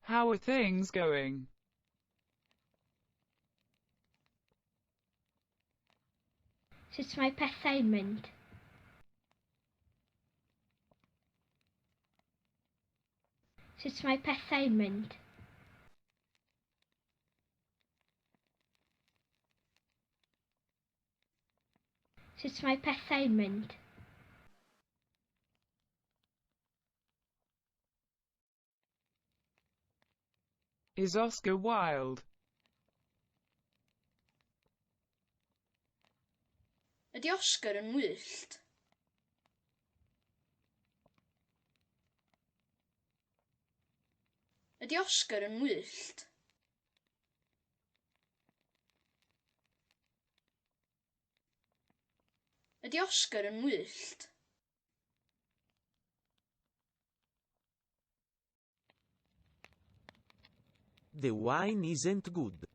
How are things going? Sut mae pethau'n mynd? Sut mae pethau'n mynd? Sut mae pethau'n mynd? Is Oscar Wilde? Ydy Oscar yn wyllt? Ydy Oscar yn wyllt? Ydy Oscar yn wyllt? The wine isn't good.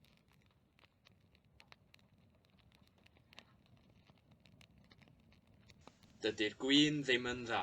Dydy'r gwin ddim yn dda.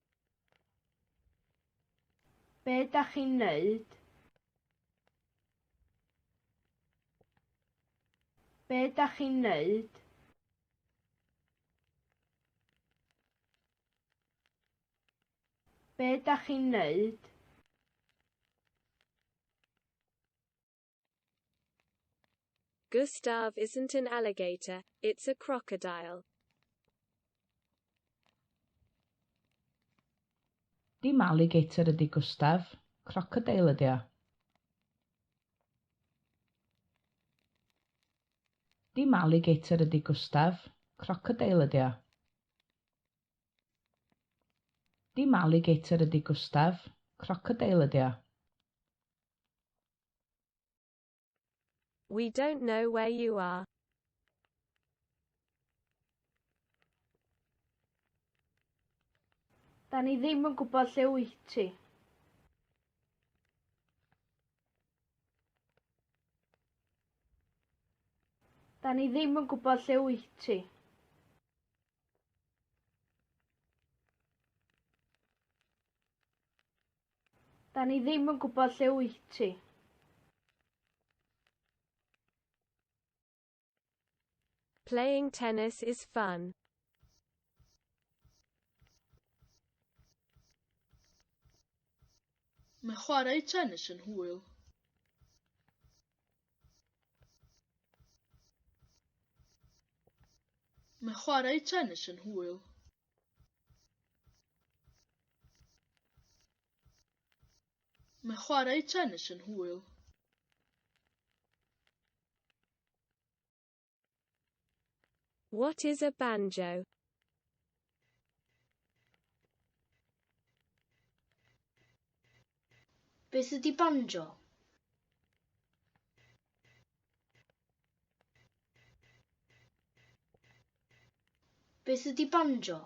Be da chi'n neud? Be da chi'n neud? Be da chi'n neud? Gustav isn't an alligator, it's a crocodile. Dim alligator ydi Gustav, crocodile ydi o. Dim alligator ydi Gustav, crocodile ydi o. Dim alligator ydi Gustav, crocodile ydi o. We don't know where you are. Da ni ddim yn gwybod lle wyt ti. Da ni ddim yn gwybod lle wyt ti. Da ni ddim yn gwybod lle wyt ti. Playing tennis is fun. Mae chwarae tennis yn hwyl. Mae chwarae tennis yn hwyl. Mae chwarae tennis yn hwyl. What is a banjo? Beth ydy banjo? Beth ydy banjo?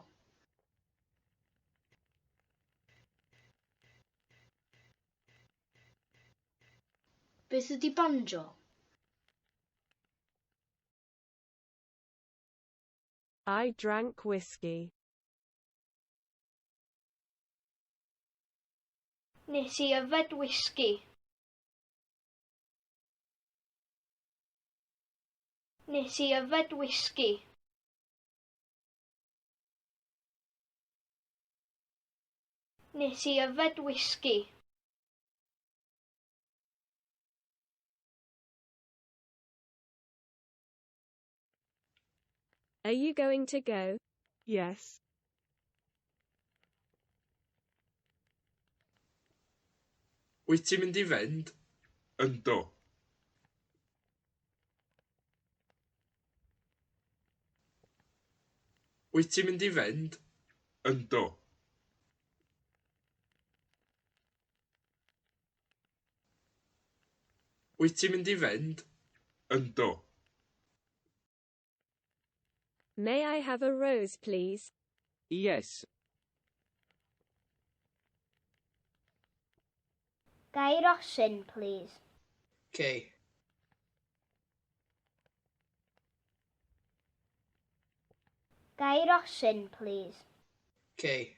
Beth ydy banjo? I drank whiskey. Nes i yfed whisky. Nes i yfed whisky. Nes i yfed whisky. Are you going to go? Yes. Wyt ti'n mynd i fynd? Yndw. Wyt ti'n mynd i fynd? Yndw. Wyt ti'n mynd i fynd? Yndw. May I have a rose please? Yes. Ga i rosyn please? Okay. Ga i rosyn please? Okay.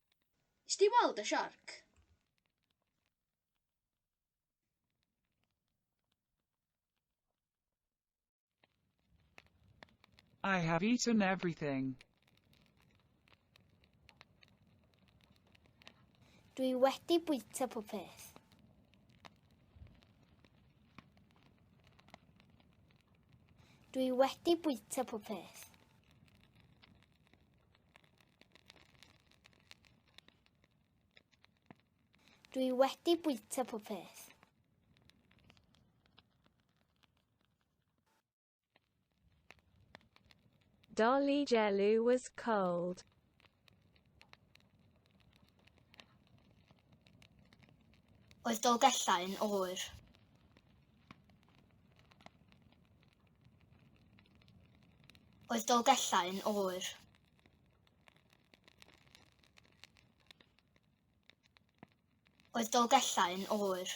Nes di weld y siarc? I have eaten everything. Dwi wedi bwyta pob peth. Dwi wedi bwyta pob peth. Dwi wedi bwyta pob peth. Dolly Jello was cold. Oedd Dolgellau yn oer. Oedd Dolgellau yn oer? Oedd Dolgellau yn oer?